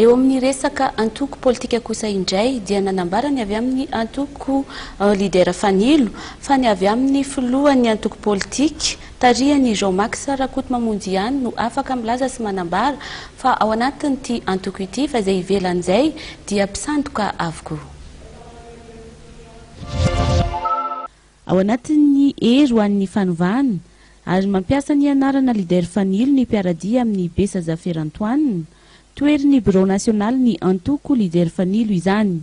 Eo amin'ny resaka antoko politika kosa indray dia nanambara ny avy amin'ny antoko Leader Fanilo fa ny avy amin'ny filohan'ny antoko politika tarihan'i Jean Max Rakotomamonjy ihany no afaka milaza sy manambara fa ao anatin'ity antoko ity fa izay ivelan'izay dia mpisandoka avokoa. Ao anatin'ny Hery ho an'ny fanovana, ary mampiasa ny anarana Leader Fanilo ny mpiara-dia amin'i Besazafer Antoine, toerin'ny birao nasionalin'ny antoko Leader Fanilo izany.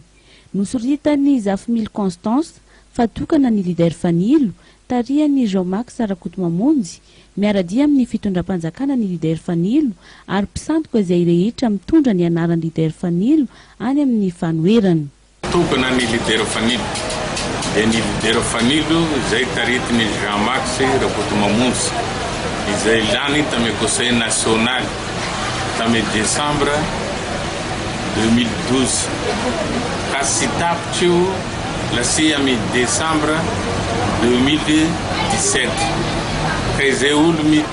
Nosoritan'i Zafimily Constance fa tokana ny Leader Fanilo, tarihan'i Jean Max Rakotomamonjy, miara-dia amin'ny fitondram-panjakana ny Leader Fanilo ary mpisandoka izay rehetra mitondra ny anaran'ny Leader Fanilo any amin'ny fanoherana. Tokana ny Lidera Fanilo dia ny Lidera Fanilo izay taritin' i Jean Max Rakotomamonjy izay lany tamin'ny Conseil Nasionaly tamin'ny Desambra deux mille douze ka tsy tapitra io lasy amin'ny Desambra deux mille dix-sept ka izay olo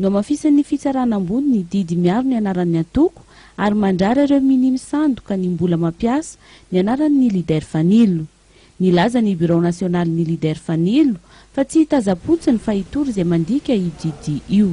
Nohamafisin'ny Fitsarana Ambony ny didy miaro ny anaran'ny antoko ary mandrara ireo minia misandoka ny mbola mampiasa ny anaran'ny Leader Fanilo. Nilaza ny Birao Nasionalin'ny Leader Fanilo fa tsy hitazam-potsiny fa hitory izay mandika io didy io.